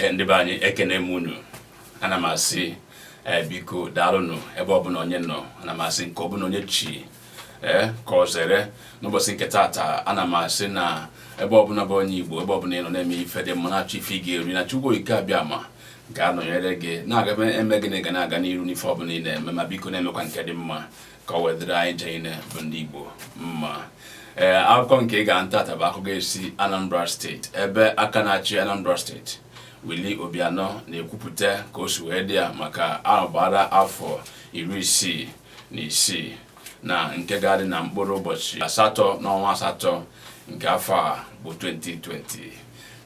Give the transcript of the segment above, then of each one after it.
Eh, ndị be anyị ekene m unu ana m asị eh, biko daalụnụ ebe ọbụla onye nọ ana m asị nke ọbụla onye chi ee eh, ka ọ zere n'ụbọchị nke taata ana m asị na ebe ọbụla bụ onye Igbo ebe ọbụla ị nọ na-eme ife dị mma na-achọ ife ị ga-eri na Chukwu Okike Abịama ga-anọnyere gị na-aga eme gị na ị ga na-aga n'iru n'ife ọbụla ị na-eme ma biko na-emekwa nke dị mma ka o wee dịrị anyị niine bụ ndị Igbo mma ee eh, akụkọ nke ị ga-anụ taata bụ akụkọ ga-esi Anambra steeti ebe aka na-achị Anambra steeti Willie Obianọ na-ekwupụta ka o si wee dị ya maka agbara afọ iri isii na isii na nke ga-adị na mkpụrụ ụbọchị asatọ n'ọnwa asatọ nke afọ a bụ 2020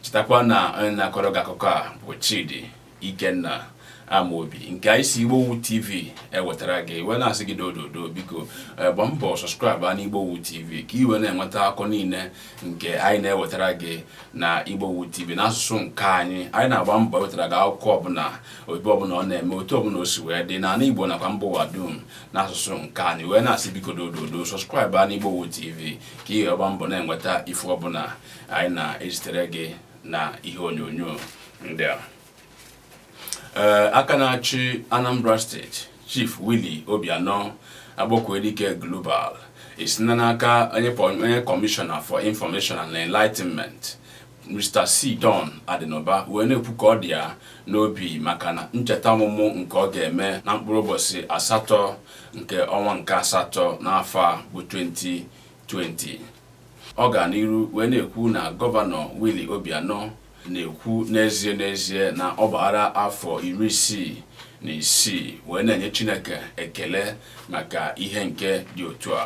chetakwa na onye na-akọrọ gị akụkọ a bụ Chidi Ikenna Amobi nke anyị si Igbowood TV ewetara gị e wee na-asị gị dododo biko eh, gba mbọ sọskraịbụ na Igbowood TV ka i wee na-enweta akụkọ niile nke anyị na-ewetara gị na Igbowood TV n'asụsụ nke anyị anyị na-agba mbọ ewetara gị akụkọ ọbụla ebe ọbụla ọ na-eme otu ọbụla o si wee dị n'ala Igbo nakwa mba ụwa dum n'asụsụ nke anyị wee na-asị biko dododo sọskraịbụ na Igbowood TV ka ị gba mbọ na-enweta ife ọbụla anyị na-ezitere gị na ihe onyonyo ndị a ee aka na-achị Anambra steeti Chief Willie Obianọ Akpọkuedike Global esina n'aka onye kọmishọna for information and enlightenment Mr. C. Don Adịnụba wee na-ekwu ka ọ dị ya n'obi maka na ncheta ọmụmụ nke ọ ga-eme na mkpụrụ ụbọchị asatọ nke ọnwa nke asatọ n'afọ a bụ 2020 Ọ gara n'iru wee na-ekwu na Gọvanọ Willie Obianọ na-ekwu n'ezie n'ezie na ọ gbaara afọ iri isii na isii wee na-enye Chineke ekele maka ihe nke dị otu a.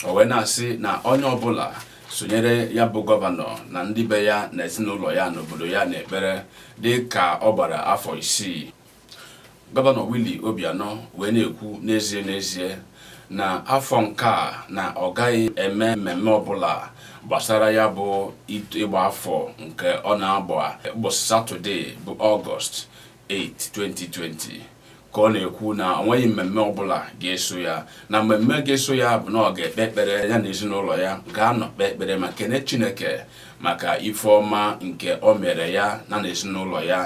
O wee na-asị na onye ọbụla sonyere ya bụ gọvanọ na ndị be ya na ezinụlọ ya n'obodo ya n'ekpere dị ka ọ gbara afọ isii. Gọvanọ Willie Obianọ wee na-ekwu n'ezie n'ezie na afọ nke a na ọ gaghị eme mmemme ọbụla gbasara ya bụ ịgba afọ nke ọ na-agba ụbọchị Satọde bụ Ọgọst 8, 2020 ka ọ na-ekwu na o nweghị mmemme ọbụla ga-eso ya na mmemme ga-eso ya bụ na ọ ga-ekpe ekpere ya na ezinụlọ ya ga-anọ kpee ekpere ma kene Chineke maka ife ọma nke o meere ya na n'ezinụlọ ya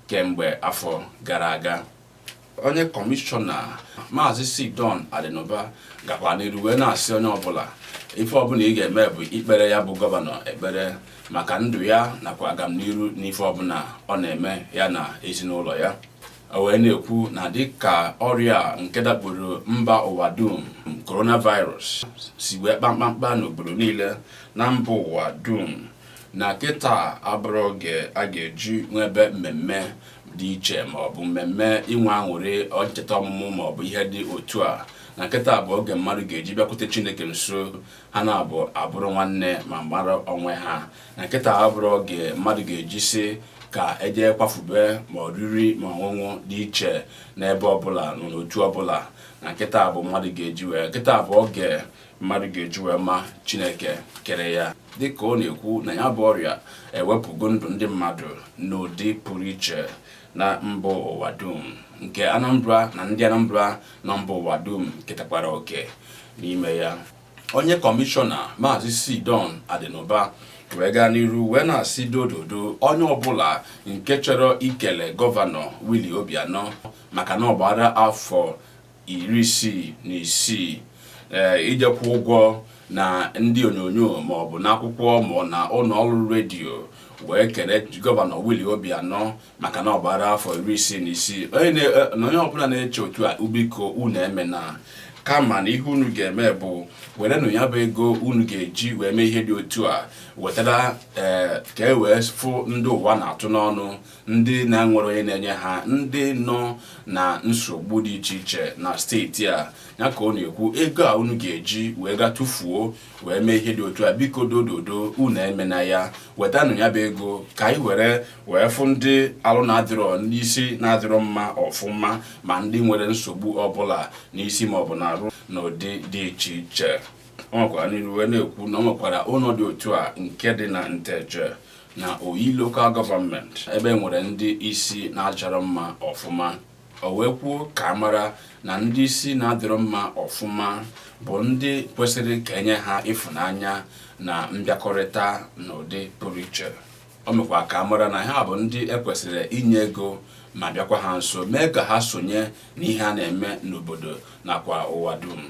kemgbe afọ gara aga onye kọmishọna maazị c don adịnụba gakwa n'iru wee na-asị onye ọbụla ife ọbụla ị ga-eme bụ ikpere ya bụ gọvanọ ekpere maka ndụ ya nakwa agamniru n'ife ọbụla ọ na-eme ya na ezinụlọ ya o wee na-ekwu na dịka ọrịa nke dakporo mba ụwa dum coronavirus si wee kpa mkpamkpa n'obodo niile na mba ụwa dum na kịta abụrọ oge a ga-eji nwebe mmemme dị iche maọbụ mmemme inwe aṅụrị ncheta ọmụmụ maọbụ ihe dị otu a na kịta bụ oge mmadụ ga-eji bịakwute chineke nso ha na-abụ abụrụ nwanne ma mara onwe ha na kịta abụrọ oge mmadụ ga-eji sị ka e je kwafube ma oriri ma ọṅụṅụ dị iche n'ebe ọbụla n'otu ọbụla na kịta bụ mmadụ ga-eji wee kịta bụ oge mmadụ ga-eji wee ma chineke kere ya dịka ọ na-ekwu na ya bụ ọrịa ewepụgo ndụ ndị mmadụ n'ụdị pụrụ iche na mba ụwa dum nke anambra na ndị anambra na mba ụwa dum ketakwara oke n'ime ya onye kọmishọna maazị c don adịnụba wee gaa n'iru wee na-asị dododo onye ọbụla nke chọrọ ikele gọvanọ Willie Obianọ maka na ọ gbara afọ iri isii na isii ije kwụ ụgwọ na ndị onyonyo ma ọ bụ n'akwụkwọ ma ọ na ụlọ ọrụ redio wee kele gọvanọ Willie Obianọ maka na ọ gbara afọ iri isii na isii na onye ọbụla na-eche otu a biko unu emena kama na ihe unu ga-eme bụ werenụ ya bụ ego unu ga-eji wee mee ihe dị otu a wetara ka e wee fụ ndị ụwa na-atụ n'ọnụ ndị na-enwerọ onye na-enye ha ndị nọ na nsogbu dị iche iche na steeti a ya ka ọ na-ekwu ego a unu ga-eji wee ga tụfuo wee mee ihe dị otu a biko dododo unu emena ya wetanụ ya bụ ego ka anyị were wee fụ ndị alụ na-adịrọ ndị isi na-adịrọ mma ọfụma ma ndị nwere nsogbu ọbụla n'isi maọbụ n'arụ n'ụdị dị iche iche ọ nwekwara n'iru wee na-ekwu na ọ nwekwara ụlọ dị otu a nke dị na nteje na oyi local government ebe e nwere ndị isi na-adịrọ mma ọfụma o wee kwuo ka a mara na ndị isi na-adịrọ mma ọfụma bụ ndị kwesịrị ka e nye ha ịfụnanya na mbịakọrịta n'ụdị pụrụ iche o mekwa ka a mara na ha bụ ndị e kwesịrị inye ego ma bịakwa ha nso mee ka ha sonye n'ihe a na-eme n'obodo nakwa ụwa dum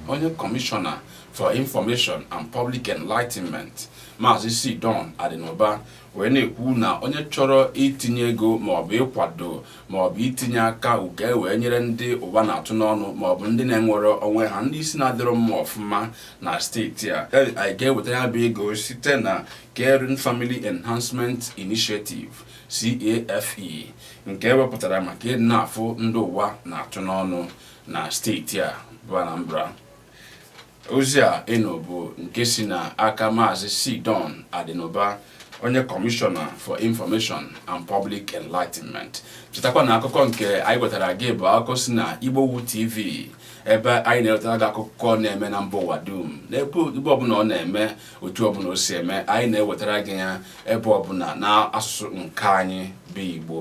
onye kọmishọna for information and public enlightenment maazị C Don Adinuba wee na-ekwu na onye chọrọ itinye ego maọbụ ịkwado maọbụ itinye aka uke wee nyere ndị ụwa na-atụ n'ọnụ maọbụ ndị na-enwerọ onwe ha ndị isi na-adịrọ mma ọfụma na steeti a anyị ga-eweta ya bụ ego site na Caring Family Enhancement Initiative CAFE nke e wepụtara maka ịdị na-afụ ndị ụwa na-atụ n'ọnụ na steeti a bụ Anambra ozi a nụ bụ nke si na aka maazị C Don Adinuba onye kọmishọna for information and public enlightenment chetakwa na akụkọ nke anyị wetara gị bụ akụkọ si na Igbowood TV ebe anyị na-ewetara gị akụkọ na-eme na mba ụwa dum n'ebe ọbụla ọ na-eme otu ọbụla o si eme anyị na-ewetara gị ya ebe ọbụla na asụsụ nke anyị bụ Igbo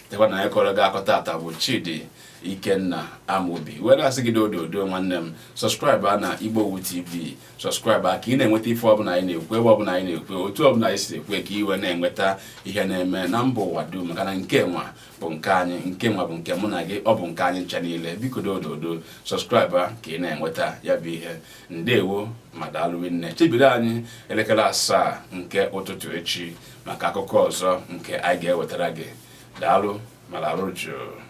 chetakwa na onye kọrọ gị akụkọ tata bụ Chidi Ikenna Amobi were asị gị dododo nwanne m subscribe na Igbowood TV subscribe ka ị na-enweta ife ọbụla anyị na-ekwu ebe ọbụla anyị na-ekwu otu ọbụla anyị si ekwu ka i wee na-enweta ihe na-eme na mba ụwa dum maka na nke nwa bụ nke anyị nke nwa bụ nke mụ na gị ọ bụ nke anyị ncha niile biko dododo subscribe ka ị na-enweta ya bụ ihe ndewo ma daalụ nne chebiri anyị elekere asaa nke ụtụtụ echi maka akụkọ ọzọ nke anyị ga-ewetara gị daalụ ma larụ jụụ